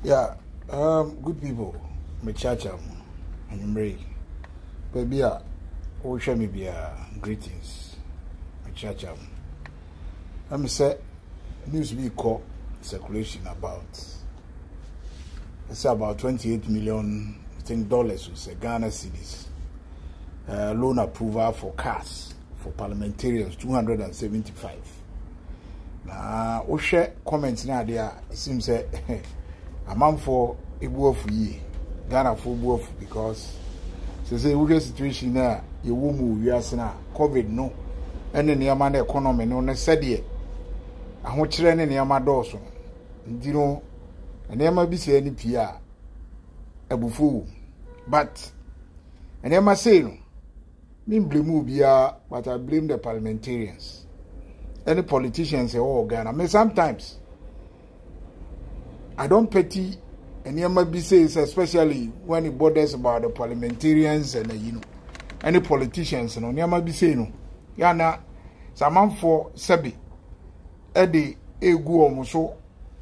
Yeah, um, good people, me kyakya mu, anwummere yi, baabi a wohwɛ me biara, greetings, me kyakya mu. Na me sɛ, news bi kɔ circulation about, ɛsɛ about 28 million, I think dollars, sɛ Ghana cedis, uh, loan approval for cars, for parliamentarians, 275. na wohwɛ comment no ade a it seems sɛ amanfoɔ ebu afu yie ghanafoɔ bu afu because sɛ sɛ wohwɛ situation no a yɛwɔ mu wiase no a covid no ɛne nneɛma no economy no ne sɛdeɛ ahokyerɛ ne nneɛma dɔɔso nti no nneɛma bi sɛ ne pii a abufuo wɔ but nneɛma sei no Me mblame obiara but I blame the parliamentarians ɛne politicians ɛwɔ wɔ Ghana. Me sometimes I don't pity nneɛma bi say sɛ especially when it borders about the parliamentarians and you know ɛne politicians no nneɛma bi say no yana sɛ amanfoɔ sɛbi ɛde egu wɔn so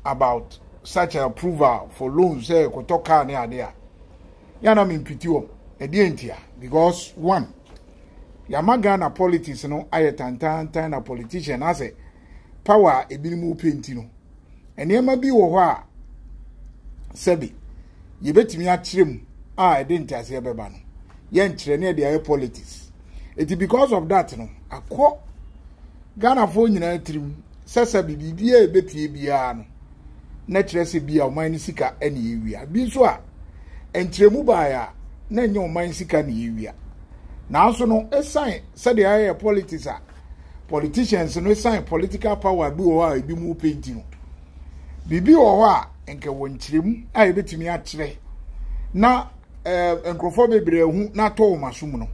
about such approval for loans sɛ kɔtɔ car ne ade a. yɛ na mempiti wɔn ɛdeɛ ntia because one yɛama ghana politics no ayɛ tantantan na politician asɛ power a ebinom wopɛ nti no nneɛma bi wɔ hɔ a sɛbi yɛbɛtumi akyerɛ mu a ɛde nteaseɛ bɛba no yɛnkyerɛ ne ɛde ayɛ politics eti because of that no akɔ ghanafoɔ nyinaa tirim sɛ sɛbi biribiara a ɛbɛpie biara no na ɛkyerɛ sɛ bi a ɔman no sika na yɛwia bi nso a nkyerɛmu baeɛ a na ɛnyɛ ɔman sika na yɛwia nanso no ɛsan sɛdeɛ ayɛ politics a politicians no ɛsan political power bi wɔ hɔ a ebi mu penti no biribi wɔ hɔ a nka wɔ nkyerɛmu a yɛbɛtumi akyerɛ na ɛɛ eh, nkurɔfoɔ bebree ho na atɔ wɔn asom no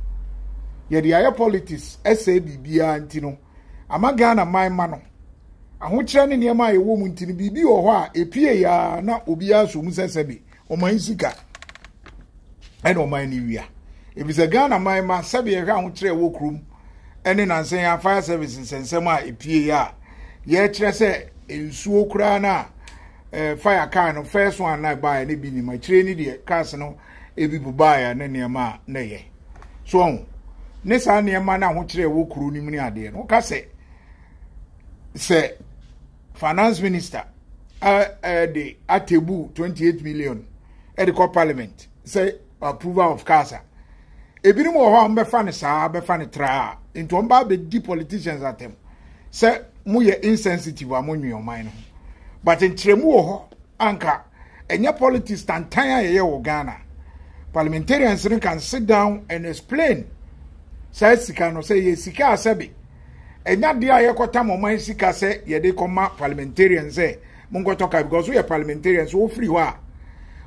yɛde ayɛ politics ɛsɛ biribiara nti no ama Ghana man ma no. Ahokyerɛ ne nneɛma a yɛwɔ mu nti no, biribi wɔ hɔ a ɛpue yaa na obiara so mu sɛ sɛbe ɔman sika ɛna ɔman ne wia. Efisɛ Ghana man ma sɛbe yɛhwɛ ahokyerɛ ɛwɔ kurom ɛne nansɛn a fire service nsɛnsɛm a ɛpue yɛ a yɛkyerɛ sɛ nsuo koraa no a eh, fire car no first one na ɛbaeɛ ne bi nim akyire ne deɛ cars no ebi bubaeɛ ne nneɛma a na ɛyɛ so ɔho ne saa nneɛma no ahokyerɛ ɛwɔ kuro no mu ne adeɛ no woka sɛ sɛ finance minister ɛde atebu 28 million ɛde kɔ parliament sɛ approval of cars a ebinom wɔ hɔ a wɔbɛfa no saa bɛfa no traa nti wɔn ba abɛdi politicians atɛm sɛ moyɛ insensitive a monwe ɔman no ho but nkyerɛmu wɔ hɔ Anka ɛnyɛ politics tantan a yɛyɛ wɔ Ghana. Parliamentarians no can sit down and explain saa sika no sɛ yɛ sika a sɛbe ɛnya deɛ a yɛkɔtam ɔman sika sɛ yɛde kɔma parliamentarians sɛ monkɔtɔ kaa because woyɛ parliamentarian so wofiri hɔ a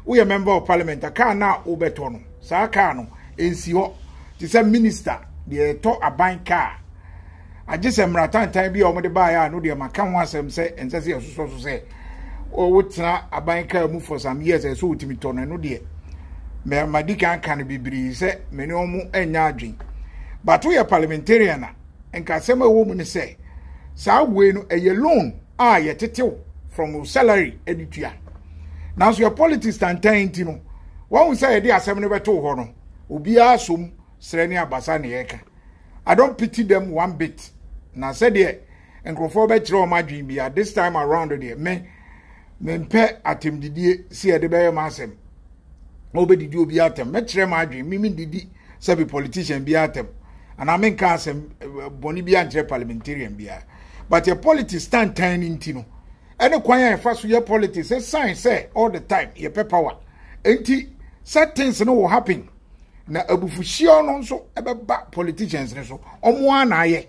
woyɛ member of parliament a kaa no a wobɛtɔ no saa kaa no ɛnsi hɔ te sɛ minister deɛ ɛtɔ aban kaa agye sɛ mmara tantan bi a wɔde baeɛ a no deɛ maka ho asɛm sɛ ɛnsɛ sɛ yɛsosɔ so sɛ wotena aban kaa mu for some years ɛsɛ wotumi tɔ no ɛno deɛ mɛma di kan ka no bebree sɛ me ne wɔn anya adwen bato yɛ parliamentarian a nka asɛm a ɛwɔ mu ne sɛ saa wei no ɛyɛ loan a yɛtetew from your salary ɛde tua nanso yɛ politics tantan nti no wɔn sɛ yɛde asɛm no bɛto hɔ no obiara som srɛ ne abasa na yɛka i don't pity them one bit na sɛdeɛ nkurɔfoɔ bɛkyerɛ wɔn adwene bi a this time around deɛ me mempɛ atɛmdidie si yɛde bɛyɛ ma asɛm na wobɛdidi obi atɛm mɛkyerɛ ma adwene me mendidi sɛ bi politician bi atɛm anaa menka asɛm eh, bɔne bi ankyerɛ parliamentarian biara but yɛ politics tantan no nti no ɛne kwan a yɛfa so yɛ politics ɛsan sɛ all the time yɛpɛ power nti certain things no will happen na abufuhyeɛ no nso ɛbɛba politicians no so ɔmo ara na ayɛ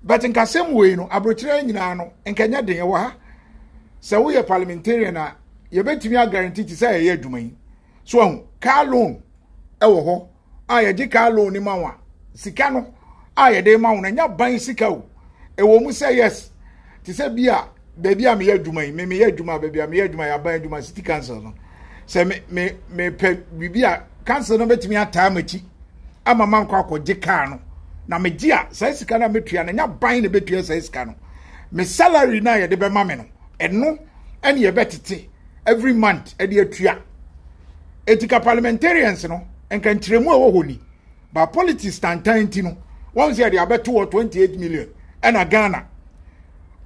but nkasɛm wei no aburokyerɛ nyinaa no nkɛnyɛ den ɛwɔ ha sɛ woyɛ parliamentarian a yɛbɛtumi agaranti te sɛ yɛyɛ adwuma yi so ahu car loan ɛwɔ hɔ a yɛgye car loan no ma wo a sika no a yɛde ma wo no ɛnyɛ ban sika o ɛwɔ mu sɛ yes te sɛ bi a baabi a meyɛ adwuma yi me meyɛ adwuma baabi a meyɛ adwuma yɛ aban adwuma city council no sɛ me me mepɛ biribi a council no bɛtumi ataa m'akyi ama ma nkɔ akɔgye kaa no na megye a saa sika no a metua no nya ban na ɛbɛtua saa sika no me salary no a yɛde bɛma me no ɛno ɛne yɛbɛtete every month ɛde atua ɛti ka parliamentarians no nka nkyerɛmu a ɛwɔ hɔ ni ba politics tantan nti no wɔn sɛ yɛde abɛto wɔ 28 million ɛna ghana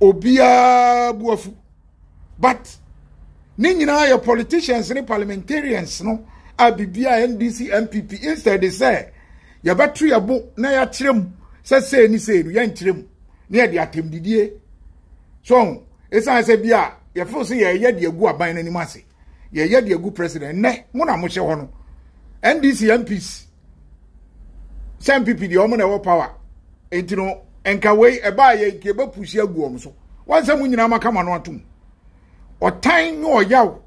obiara buafu but ne nyinaa yɛ politicians ne parliamentarians no a biribi a ndc npp instead sɛ yɛbɛto yɛ bo na yɛakyerɛ mu sɛ sei ne sei no yɛnkyerɛ mu ne yɛde atɛmdidie so ɛsiane sɛ bi a yɛfo sɛ yɛyɛ de agu aban no anim ase yɛyɛ de agu president nnɛ mo na mohyɛ hɔ no ndc mps sɛ mpp deɛ ɔmo na ɛwɔ power nti no nka wei ɛbaa yɛ nka ɛbɛ pusi agu ɔmo so wɔn sɛ mo nyinaa mo akama no atom ɔtan ne ɔyaw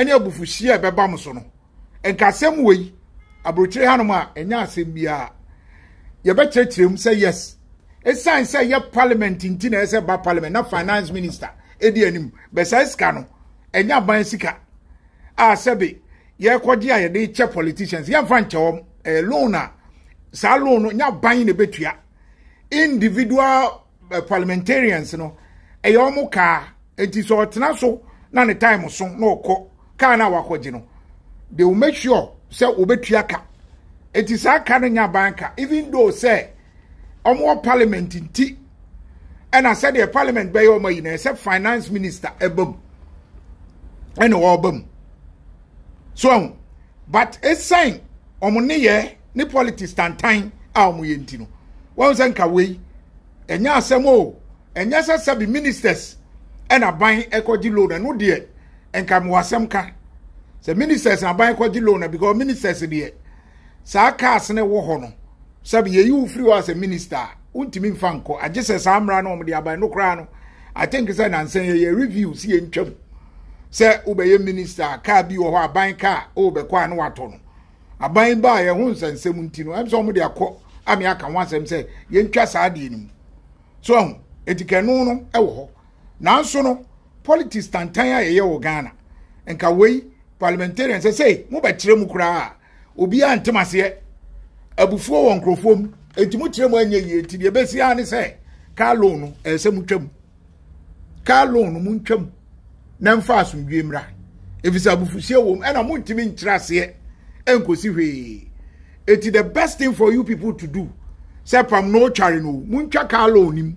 ne abufuhyeɛ a ɛbɛba mo so no nka asɛm wei aburokyire hanom a ɛnyɛ asɛm biara yɛbɛkyerɛkyerɛ mu sɛ yes ɛsiane sɛ yɛ parliament nti na ɛsɛ ba parliament na finance minister ɛdi anim bɛsɛ sika no ɛnyɛ aban sika a sɛbe yɛkɔgye a yɛde kyɛ politicians yɛmfa nkyɛ wɔn ɛyɛ loan a saa loan no nyɛ aban na ɛbɛtua individual eh, parliamentarians no ɛyɛ wɔn kaa nti sɛ ɔtena so na ne time so na ɔkɔ kaa no a wakɔgye no they will make sure sɛ wɔbɛtua ka nti saa ka no nyɛ aban ka even though sɛ wɔwɔ parliament nti ɛna sɛdeɛ parliament bɛyɛ wɔn ayi na ɛsɛ finance minister ɛba mu ɛna wɔba mu so ɛho but ɛsan wɔn nneyɛ ne politics tantan a wɔn yɛ nti no wɔn sɛ nka wei ɛnyɛ asɛm o ɛnyɛ sɛ sɛbi ministers ɛna ban ɛkɔgye loan ɛno deɛ nka mo asɛm ka sɛ ministers na ban ɛkɔgye loan na because ministers deɛ. saa cars no wɔ hɔ no sɛbi yɛyi wo firi hɔ asɛ minister a wontumi mfa nkɔ agye sɛ saa mmara no wɔde aban no koraa no i think sɛ nansa yɛyɛ review si yɛntwam sɛ wobɛyɛ minister a kaa bi wɔ hɔ aban kaa a wobɛkɔ a na watɔ no aban baa yɛ ho nsɛnsɛm nti no ɛm sɛ wɔde akɔ ame aka ho asɛm sɛ yɛntwa saa deɛ no mu so ahu ɛti kɛno no ɛwɔ hɔ nanso no politics tantan a yɛyɛ wɔ ghana nka wei parliamentarian sɛ sɛ mobɛkyerɛ mu koraa a obiara ntem aseɛ abufuo wɔ nkurɔfoɔ mu enti mokyerɛ mu anyɛ yie nti deɛ ɛbɛsi ara ne sɛ car loan no ɛyɛ sɛ motwa mu car loan no montwa mu na mfa asomdwie mmra ɛfisɛ abufuhyeɛ wɔ mu ɛna montumi nkyerɛ aseɛ ɛnkɔsi hwee eti the best thing for you people to do sɛ pam na ɔtware no montwa car loan no mu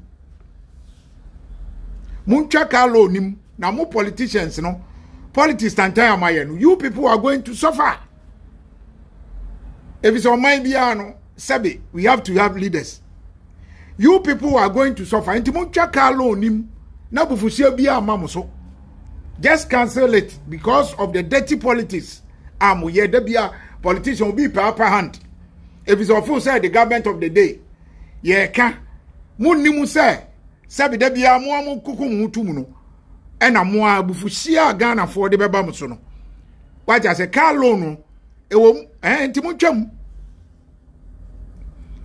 montwa car loan nim na mo politicians no politics tantan a moayɛ no you people are going to suffer efisɛ ɔman biara no sɛbe we have to have leaders you people are going to suffer nti montwa car loan nim na bufuhyia biara ma mo so just cancel it because of the dirty politics a moyɛ da bia politician obi paapa hand efisɛ ɔfo sɛ the government of the day yɛreka monnim sɛ sɛbi da biara mo a mokoko mo ho to mu no ɛna mo a abufuhyia a ghanafoɔ de bɛba mo so no wagya sɛ car loan no ɛwɔ mu ɛɛ nti montwam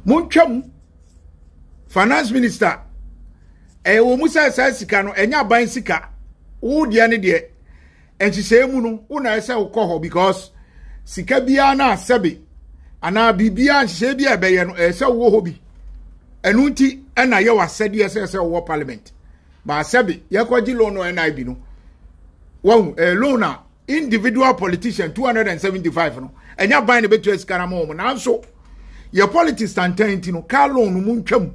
montwam finance minister ɛwɔ mu sɛ saa sika no ɛnyɛ aban sika wo deɛ ne deɛ nhyehyɛe mu no wo na ɛsɛ wokɔ hɔ because sika biara no a sɛbe anaa biribiara nhyehyɛe bi a ɛbɛyɛ no ɛsɛ wowɔ hɔ bi ɛno nti ɛna yɛ w'asɛdeɛ sɛ sɛ wowɔ parliament baa sɛbe yɛkɔgye loan no nib no wahu ɛyɛ loan a individual politician 275 no ɛnyɛ aban na ɛbɛtua sika no ma wɔ mu nanso yɛ politics tantan nti no car loan no mu ntwam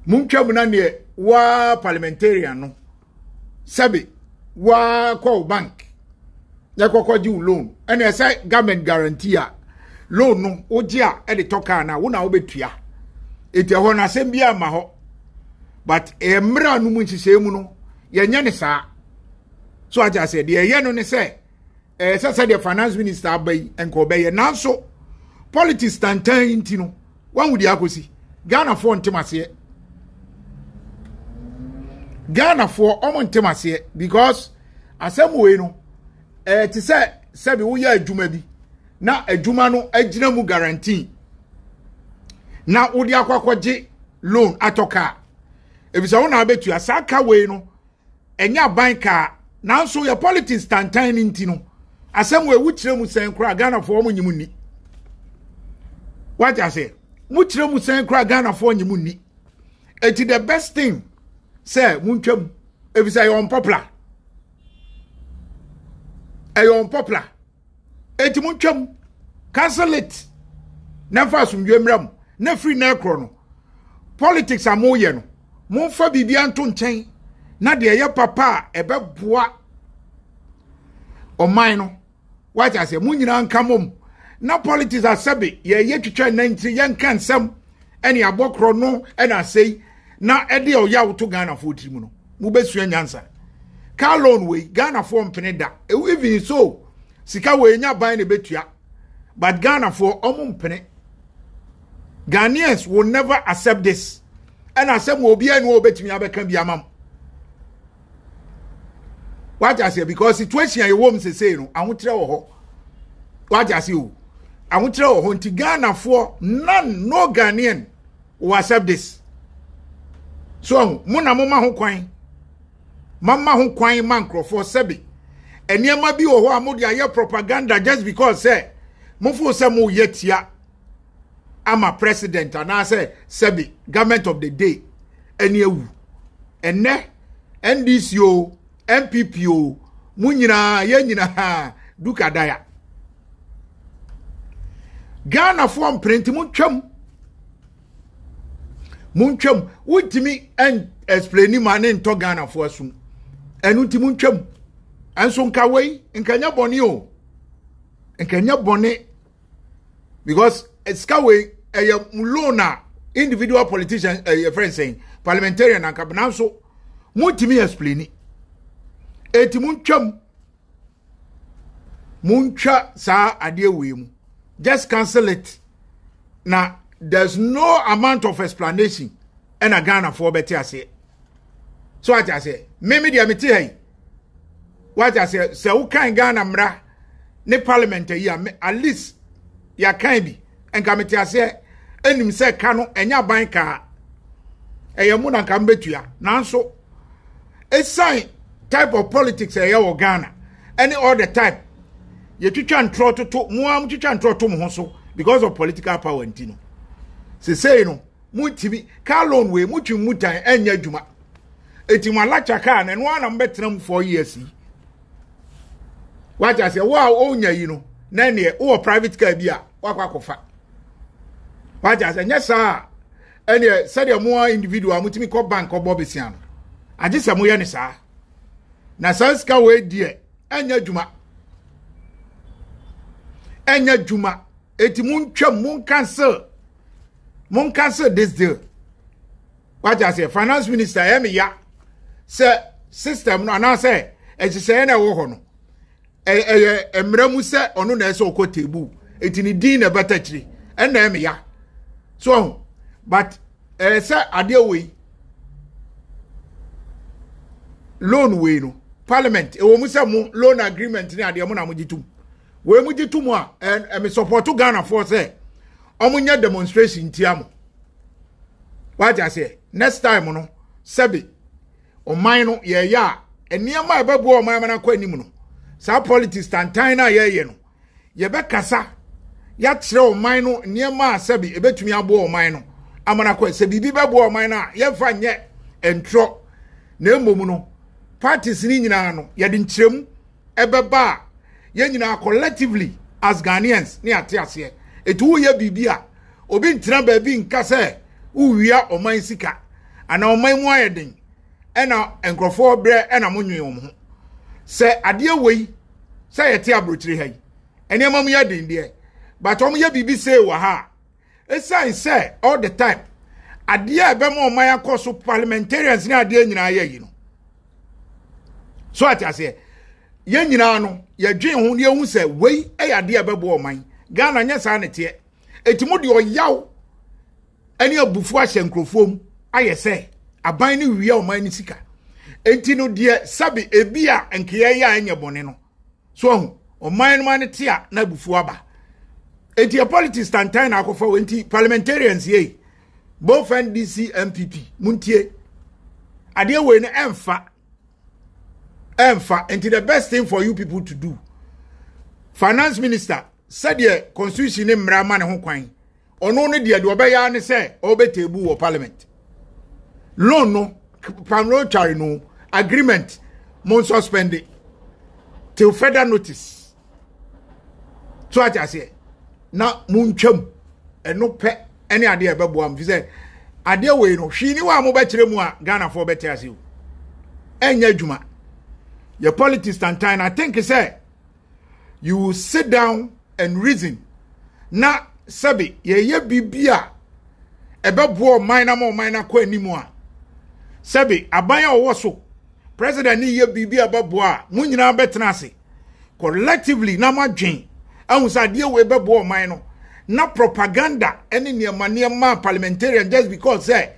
mu ntwam na neɛ waa parliamentarian no sɛbe woakɔ wo bank na kɔkɔ gye wo loan ɛna ɛsɛ government guarantee a loan no wogye a ɛde tɔ kaa no a wo na wobɛtua ɛti ɛhɔ no asɛm bi ama hɔ but ɛyɛ mmerɛ no mu nhyehyɛɛ mu no yɛnyɛ ne saa so ate aseɛ deɛ ɛyɛ no ne sɛ ɛɛ sɛ sɛdeɛ finance minister aba yi nka ɔbɛyɛ nanso politics tantan yi nti no wahu deɛ akɔsi ghanafoɔ ntem aseɛ ghanafoɔ ɔmo ntem aseɛ because asɛm wei no ɛɛ te sɛ sɛbi woyɛ adwuma bi na adwuma no agyina mu guarantee na wode akɔ akɔgye loan atɔ kaa ebisɛ wo na abɛtua saa ka wei no ɛnyɛ aban kaa nanso yɛ politics tantan no nti no asɛm wɔ ewu kyerɛ mu sɛn koraa ghanafoɔ wɔn nyɛ mu nni wagye aseɛ mu kyerɛ mu sɛn koraa ghanafoɔ nyɛ mu nni eti the best thing sɛ mu ntwa mu efisɛ ɛyɛ unpopular ɛyɛ unpopular. enti montwam cancel it na mfa asomdwoe mmra mu na firi na ɛkorɔ no politics a moyɛ no momfa biribia nto nkyɛn na deɛ ɛyɛ papa a ɛbɛboa ɔman no wate aseɛ mo nyinaa nka mom na politics asɛbe yɛyɛ twitwa nantiri yɛnka nsɛm ɛne abɔkorɔ no ɛna asɛi na ɛde ɔyaw to ghanafoɔ tiri mu no mobɛsua nyansa car loan wei ghanafoɔ mpene da even so sika wei nya ban na ɛbɛtua but ghanafoɔ ɔmo mpene ghanaians will never accept this ɛna asɛm wɔ obiara ni wɔ obɛtumi abɛka bi ama mo wagye aseɛ because situation a yɛwɔ mu sesei no ahokyerɛ wɔ hɔ wagye aseɛ o ahokyerɛ wɔ hɔ nti ghanafoɔ none no ghanaian wɔ accept this so ɔho mo na moma ho kwan mama ho kwan ma nkurɔfoɔ sɛbe nneɛma bi wɔ hɔ a mode ayɛ propaganda just because sɛ mofo sɛ moyɛ tia ama president anaasɛ sɛbe government of the day ɛne awu ɛnɛ ndc o npp o mo nyinaa yɛ nyinaa dukadaya ghanafoɔ mpene nti montwam montwam wontumi explaini ma ne ntɔ ghanafoɔ asom ɛno nti montwam ɛnso nka wei nka nyɛ bɔne o nka nyɛ bɔne because eh, sika wei ɛyɛ eh, loan a individual politician ɛyɛ eh, friend sɛn parliamentarian anka nanso montumi explaini eti montwam montwa saa adeɛ wei mu just cancel it na there's no amount of explanation ɛna ghanafoɔ bɛte aseɛ so ate aseɛ me me deɛ mete ha yi wate aseɛ sɛ wokan ghana mmara ne parliament yi a at least yɛakan bi nka mete aseɛ ɛnim sɛ ka no ɛnyɛ aban kaa ɛyɛ mo na nka mbɛtua nanso ɛsiane type of politics a ɛyɛ wɔ ghana ɛne all the time yɛtwitwa ntorɔ toto mo a motwitwa ntorɔ to mo ho so because of political power nti no sesei no montumi car loan wei motwe mu tan ɛnyɛ adwuma ɛti mo alakya car na ɛno ara na mobɛtena mu four years yi wagya sɛ wo a wonya yi no na ɛneɛ wowɔ private car bi a woakɔ akɔfa wagya sɛ nyɛ saa a ɛneɛ sɛdeɛ mo a individual motumi kɔ bank ɔbɔ besia no agye sɛ moyɛ ne saa na saa sika wei deɛ ɛnyɛ adwuma ɛnyɛ adwuma eti montwam monkansel monkansel this deal wagye aseɛ finance minister ɛyɛ me ya sɛ system no anaasɛ ɛhyehyɛeɛ na ɛwɔ hɔ no ɛyɛ mmerɛ mu sɛ ɔno na ɛsɛ ɔkɔ tebu eti ne din na ɛbɛta akyiri ɛna ɛmɛ ya so ɔho but ɛyɛ sɛ adeɛ wei loan wei no parliament ɛwɔ mu sɛ mo loan agreement ne adeɛ mo na mo gye tum wei mo gye tum a ɛmɛ support ghana foɔ sɛ ɔmo nyɛ demonstration tia mo wagye aseɛ next time no sɛbi. ɔman no yɛyɛ a nneɛma a ɛbɛboa ɔman no akɔ anim no saa politics tantan no a yɛyɛ no yɛbɛkasa yɛakyerɛ ɔman no nneɛma a sɛbi ɛbɛtumi aboa ɔman no ama no akɔ sɛ biribi bɛboa ɔman no a yɛmfa nyɛ ntorɔ na mmom no parties no nyinaa no yɛde nkyerɛmu ɛbɛba a yɛn nyinaa collectively as Ghanaians ne ate aseɛ ɛti woyɛ biribi a obi ntena baabi nka sɛ wowia ɔman sika anaa ɔman mu ayɛ den ɛna nkurɔfoɔ berɛ ɛna mo nwen wɔn ho sɛ adeɛ wei sɛ yɛte aburokyire ha yi nneɛma mu yɛ den deɛ but wɔn yɛ biribi see wɔ ha a Esiane sɛ all the time adeɛ a ɛbɛma ɔman akɔ so parliamentarians ne adeɛ nyinaa yɛ yi no so ate aseɛ yɛn nyinaa no yɛdwen ho yɛhu sɛ wei yɛ adeɛ a ɛbɛboa ɔman ghana nyɛ saa ne teɛ ɛti mu deɛ ɔyaw ne abufuo ahyɛ nkurɔfoɔ mu ayɛ sɛ aban no wia ɔman no sika ɛti no deɛ sɛbe ebi a nkeɛ yɛ a ɛnyɛ bɔne no so ɔho ɔman no ma no te a na abufuo aba enti yɛ politics tantan na akɔfa wɔ nti parliamentarians yei both ndc mpp muntie adeɛ wei no ɛmfa ɛmfa nti the best thing for you people to do finance minister sɛdeɛ constitution ne mmara ma ne ho kwan ɔno ne deɛ deɛ ɔbɛyɛ ara ne sɛ ɔbɛteebu wɔ parliament loan no pamro tware no agreement mo nsuspende till further notice so ate aseɛ na montwam ɛno pɛ ɛne adeɛ ɛbɛboa m fi sɛ adeɛ wei no hwii ni wɔ a mobɛkyerɛ mu a ghanafoɔ bɛte ase o ɛnyɛ adwuma yɛ politics tantan na think sɛ you sit down and reason na sɛbi yɛyɛ biribi a ɛbɛboa ɔman na ma ɔman no akɔ anim a sɛbi aban a ɔwɔ so president ne yɛ biribi a ɛbɛboa a mo nyinaa bɛtena ase collectively na mo adwen ahu sɛ adeɛ wei bɛboa ɔman no na propaganda ne nneɛma nneɛma parliamentarian just because sɛ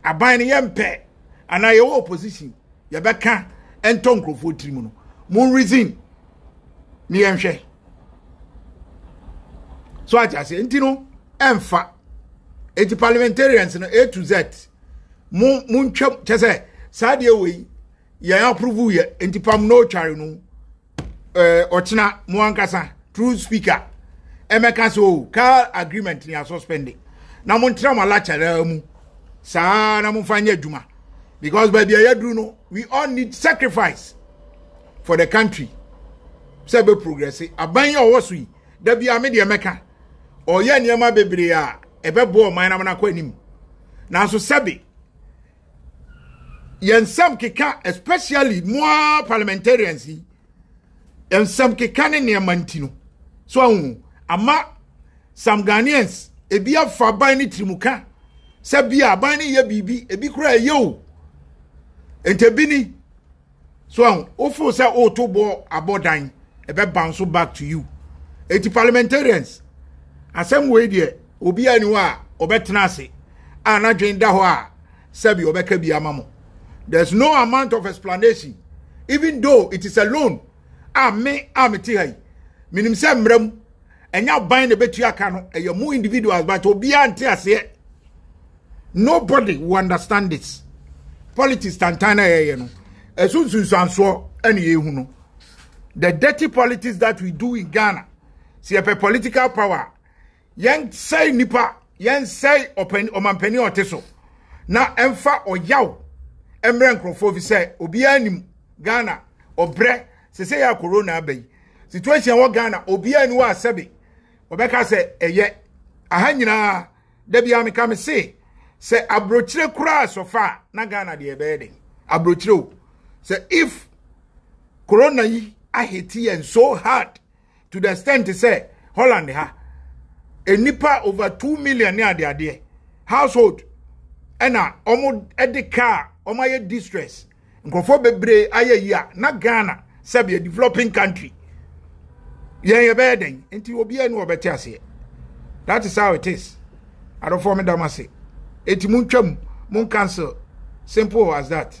aban no yɛmpɛ anaa yɛwɔ opposition yɛbɛka ɛntɔ nkurɔfoɔ tiri mu no mo reason ne yɛnhwɛ so ate aseɛ nti no ɛmfa eti parliamentarians no a to z mo mo ntwam kyɛ sɛ saa deɛ wei yɛn approve yɛ nti pam na ɔtware no Eh, ɔkyena mo ankasa true speaker ɛmɛka sɛ o car agreement ni asuspende na montra mo alakyɛraa mu saa na momfa nyɛ adwuma because baabi a yɛaduru no we all need sacrifice for the country sɛ bɛ progress aban yɛ ɔwɔ so yi da bi a me deɛ mɛka ɔyɛ nneɛma bebree a ɛbɛboa ɔman na mona kɔ anim nanso sɛbe yɛn nsɛm keka especially mo ara parliamentarians yi yɛn nsɛm keka ne nneɛma nti no so ahu ama some ghanaians ebi afa aban ne tirimuka sɛ bi a aban ne yɛ biribi ebi kora ɛyɛ o nti ebi ni so ahu wofo sɛ woto bɔ abɔ dan ɛbɛ bounce so back to you eti parliamentarians asɛm wei deɛ obi ani hɔ a ɔbɛtena ase a n'adwene da hɔ a sɛbi ɔbɛka bi ama mo there's no amount of explanation even though it is a loan a me a mete ha yi menim sɛ mmerɛ mu ɛnyɛ aban na ɛbɛtua ka no ɛyɛ mu individuals but obiara nte aseɛ nobody will understand this politics tantan na yɛyɛ no ɛso nsunsuansoɔ ɛne yɛhu no the dirty politics that we do in ghana sɛ yɛpɛ political power yɛnsɛe nipa yɛnsɛe ɔmampani a ɔte so na ɛmfa ɔyaw mmerɛ nkurɔfoɔ fi sɛ obiara nim ghana ɔbrɛ sɛ sɛ yɛ corona aba yi situation wɔ ghana obiara ni wɔ asɛbe ɔbɛka sɛ ɛyɛ aha nyinaa da biara meka me se sɛ aburokyire koraa sɔfa a na ghana deɛ ɛbɛyɛ den aburokyire o sɛ if corona yi ahete yɛn so hard to the extent sɛ holland ha nnipa over two million ne adeadeɛ household ɛna wɔn de kaa wɔn ayɛ distress nkurɔfoɔ bebree ayɛ yi a na ghana sɛbi yɛ developing country yɛn yɛbɛyɛ dɛn nti obiara ni wɔbɛte aseɛ that is how it is adɔfoɔ me dam ase eti mo ntwam mo nkansel simple as that.